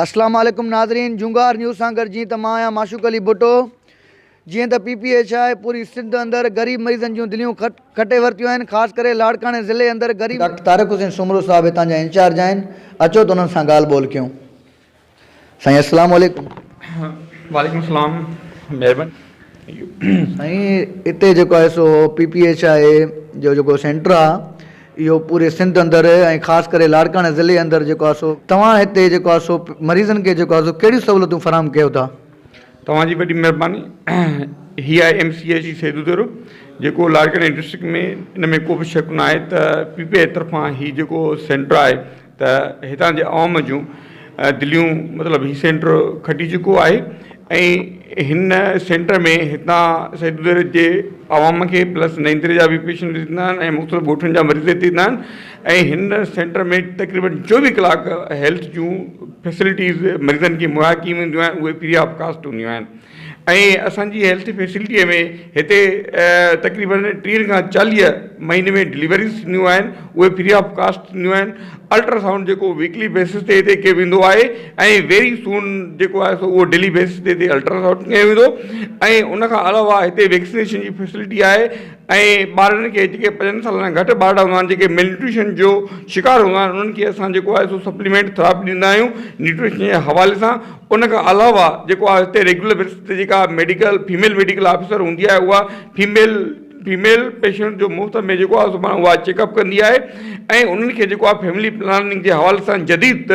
السلام عليڪم ناظرين جونگار نيوز سان گڏ جيئن ته مان آهيان معشوق علي ڀٽو جيئن ته پي پي ايچ آء پوري سنڌ اندر غريب مريضن جون دليون کٽي ورتيون آهن خاص ڪري لاڙڪاڻي ضلعي اندر غريب ڊاڪٽر طارق حسين سومرو صاحب هتان جا انچارج آهن اچو ته انهن سان ڳالهه ٻولهه ڪيون. سائين اسلام عليڪم. وعليڪم سلام مھرباني سائين اتي جيڪو آهي سو پي پي ايڇ آء جو جيڪو سينٽر آ اهو پوري سنڌ اندر ۽ خاص ڪري لاڙڪاڻي ضلعي اندر جيڪو آ سو توهان هتي جيڪو آ سو مريضن کي جيڪو آ سو ڪهڙيون سهولتون فراهم ڪيو ٿا. توهان جي وڏي مھرباني هي آهي M C H Saidu Dero جيڪو لاڙڪاڻي ڊسٽرڪٽ ۾ ان ۾ ڪو به شڪ ناهي ته پي پي ايڇ طرفان هي جيڪو سينٽر آهي ته هتان جي عوام جون دليون مطلب هي سينٽر کٽي چڪو آهي ۽ هن سينٽر ۾ هتان سيدودر جي عوام کي پلس نئيندر جا به پيشنٽ ڏيندا آهن ۽ مختلف ڳوٺن جا مريض هتي ٿيندا آهن ۽ هن سينٽر ۾ تقريبن چوويهه ڪلاڪ هيلٿ جون فيسلٽيز مريضن کي مهيا ڪيون وينديون آهن اهي فري آف ڪاسٽ هونديون آهن ۽ اسان جي هيلٿ فيسلٽيء ۾ هتي تقريباً ٽيهه کان چاليهه مهيني ۾ ڊليوريز ٿينديون آهن اهي فري آف ڪاسٽ ٿينديون آهن الٽرا سائونڊ جيڪو ويڪلي بيسز تي هتي ڪيو ويندو آهي ۽ ويري سون جيڪو آهي سو اهو ڊيلي بيسز تي هتي الٽرا سائونڊ ڪيو ويندو ۽ ان کان علاوه هتي ويڪسنيشن جي فيسلٽي آهي ۽ ٻارڙن کي جيڪي پنجن سالن کان گهٽ ٻارڙا هوندا آهن جيڪي ملنيوٽريشن جو شڪار هوندا آهن انهن کي اسان جيڪو آهي سو سپليمينٽ ٿراپي ڏيندا آهيون نيوٽريشن جي حوالي سان ان کان علاوه جيڪو آهي هتي ريگيولر بيسس تي جيڪا ميڊيڪل فيميل ميڊيڪل آفيسر هوندي آهي اها فيميل فيميل پيشنٽ جو مفت ۾ جيڪو آهي سو پاڻ اها چيڪ اپ ڪندي آهي ۽ انهن کي جيڪو آهي فيملي پلاننگ جي حوالي سان جديد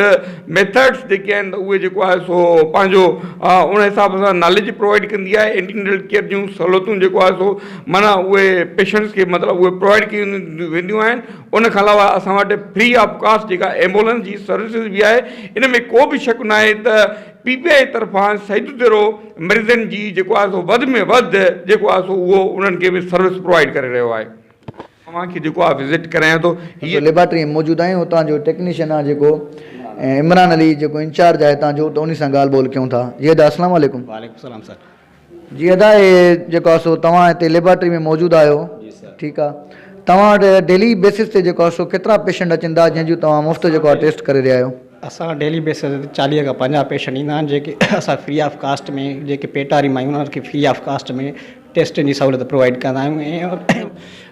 ميٿڊس جيڪي آهن ته اهي جيڪو آهي سو پنهنجو ان حساب سان ناليج پرووائيڊ ڪندي آهي اينٽينڊل ڪيئر جون سهولتون جيڪو آهي سو معنيٰ اهي پيشنٽس کي مطلب اهي پرووائيڊ ڪيون وينديون آهن ان کان علاوه اسان وٽ فري آف ڪاسٽ جيڪا ايمبولنس جي سروسز به آهي ان ۾ ڪو به شڪ ناهي ته پي پي آئي طرفان سيد الدرو مريضن جي جيڪو آهي سو وڌ ۾ وڌ جيڪو آهي سو اهو انهن کي به سروس پرووائيڊ ڪري رهيو آهي اوهان کي جيڪو آهي وزٽ ڪرايان ٿو هي ليبارٽري ۾ موجود آهيون هتان جو ٽيڪنيشن آهي جيڪو عمران علي جيڪو انچارج آهي هتان جو ته انهي سان ڳالهه ٻولهه ڪيون ٿا زيد اسلام عليڪم. وعليڪم السلام سر. جي ادا هي جيڪو آهي سو توهان هتي ليبارٽري ۾ موجود آهيو ٺيڪ آ توهان وٽ ڊيلي بيسس تي جيڪو آهي سو ڪيترا پيشنٽ اچن ٿا جنهن جون توهان مفت جيڪو آهي ٽيسٽ ڪري رهيا آهيو. اسان وٽ ڊيلي بيسس تي چاليهه کان پنجاهه پيشنٽ ايندا آهن جيڪي اسان فري آف ڪاسٽ ۾ جيڪي پيٽ واري مايون آهن انهن کي فري آف ڪاسٽ ۾ ٽيسٽن جي سهولت پرووائيڊ ڪندا آهيون ۽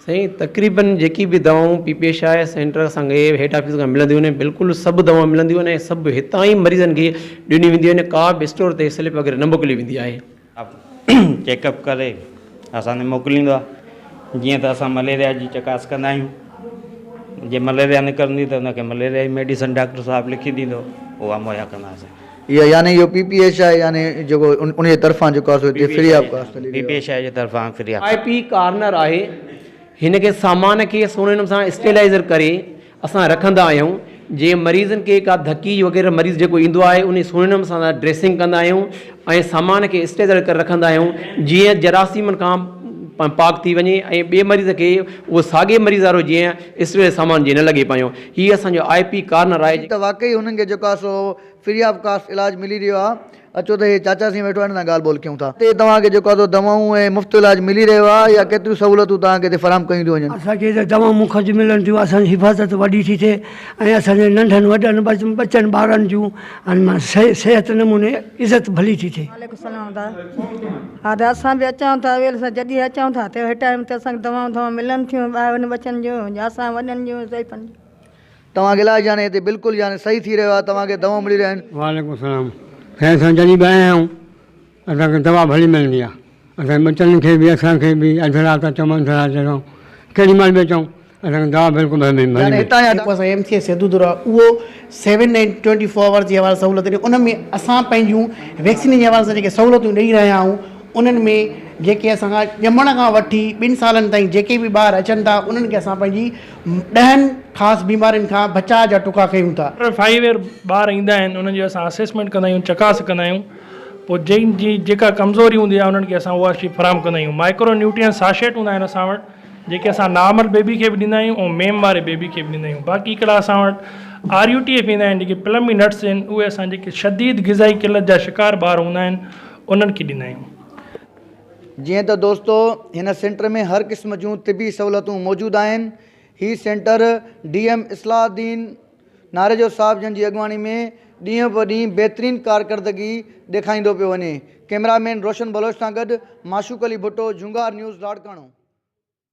سائين تقريبن جيڪي به دوائون P P H I centre سان گئي هيڊ آفيس کان ملنديون آهن بلڪل سڀ دوائون ملنديون آهن ۽ سڀ هتان ئي مريضن کي ڏنيون وينديون آهن ڪا به اسٽور تي سلپ وغيره نه موڪلي ويندي آهي. چيڪ اپ ڪري اسان تي موڪليندو آهي جيئن ته اسان مليريا جي چڪاس ڪندا آهيون جي مليريا نڪرندي ته ان کي مليريا جي ميڊيسن ڊاڪٽر صاحب لکي ڏيندو اها مهيا ڪنداسين. يعني اهو پي پي ايش آء يعني جيڪو ان جي طرفان جيڪو آهي سو هتي فري آف ڪاسٽ هلي رهيو آهي. پي پي ايش آء جي طرفان free of. I P corner آهي هن کي سامان کي سهڻي نموني سان اسٽيلائيزر ڪري اسان رکندا آهيون جي مريضن کي ڪا ڌڪي وغيره مريض جيڪو ايندو آهي انهي سهڻي نموني سان اسان ڊريسنگ ڪندا آهيون ۽ سامان کي اسٽيلائيزر ڪري رکندا آهيون جيئن جراثيمن کان پاڪ ٿي وڃي ۽ ٻي مريض کي اهو ساڳي مريض وارو جيئن اسريل سامان جي نه لڳي پايون هي اسان جو آء پي ڪارنر آهي. ٺيڪ ته واقعي هنن کي جيڪو آ سو فري آف ڪاسٽ علاج ملي رهيو آ اچو ته هي چاچا سين ويٺو آ هن سان ڳالھ ٻولھ ڪيون ٿا. اتي توهان کي جيڪو آ سو دوائون ۽ مفت علاج ملي رهيو آ يا ڪيتريون سهولتون توهان کي اتي فراهم ڪيون ٿيون وڃن. اسان کي ته دوائون مفت ملن ٿيون اسان جي حفاظت وڏي ٿي ٿئي ۽ اسان جي ننڍن وڏن ٻچن ٻارن جون ان مان صحت نموني عزت ڀلي ٿي ٿئي. وعليڪم السلام دا هادا اسان به اچون ٿا اويل سان جڏهن اچون ٿا ته هي ٽائيم ته اسان دوائون دوائون ملن ٿيون ٻاهرن ٻچن جو يا اسان وڏن جو ضعيفن جو. توهان کي علاج يعني هتي بلڪل يعني صحيح ٿي رهيو آهي توهان کي دوائون ملي رهيون آهن. وعليڪم السلام خير سان جڏهن به آيا آهيون اسان کي دوا ڀلي ملندي آ اسان ٻچن کي به اسان کي به اڌ رات اچون اڌ رات جاء ڪيڏي مھل به اچون اسان کي دوا بلڪل ڀلي ملندي آ. ھتان جا جيڪو اسان ايم سي اي سيدودور آ اھو seven day twenty four hour جي حوالي سھولت ڏي ان ۾ اسان پنھنجون ويڪسين جي حوالي سان جيڪي سھولتون ڏئي رھيا آھون انھن ۾ جيڪي اسان کان ڄمڻ کان وٺي ٻن سالن تائين جيڪي به ٻار اچن ٿا انھن کي اسان پنھنجي ڏھن خاص بيمارين کان بچاء جا ٽڪا ڪيون ٿا. ٽر فائيو ايئر ٻار ايندا آھن انھن جو اسان اسيسمينٽ ڪندا آھيون چڪاس ڪندا آھيون. پوء جن جي جيڪا ڪمزوري هوندي آهي انهن کي اسان اها شي فراهم ڪندا آهيون مائڪرو نيوٽرينٽ ساشيٽ هوندا آهن اسان وٽ جيڪي اسان نارمل بيبي کي به ڏيندا آهيون ۽ ميم واري بيبي کي به ڏيندا آهيون باقي هڪڙا اسان وٽ آر يو ٽي ايف ايندا آهن جيڪي پلم بي نٽس آهن اهي اسان جيڪي شديد غذائي قلت جا شڪار ٻار هوندا آهن انهن کي ڏيندا آهيون. جيئن ته دوستو هن سينٽر ۾ هر قسم جون طبي سهولتون موجود آهن هي centre D M Islah Uddin. Narejo صاحب جن جي اڳواڻي ۾ ڏينهن به ڏينهن بهترين ڪارڪردگي ڏيکائيندو پيو وڃي ڪئميرا مين روشن بلوچ سان گڏ معشوق علي ڀٽو جهونگار نيوز لاڙڪاڻو.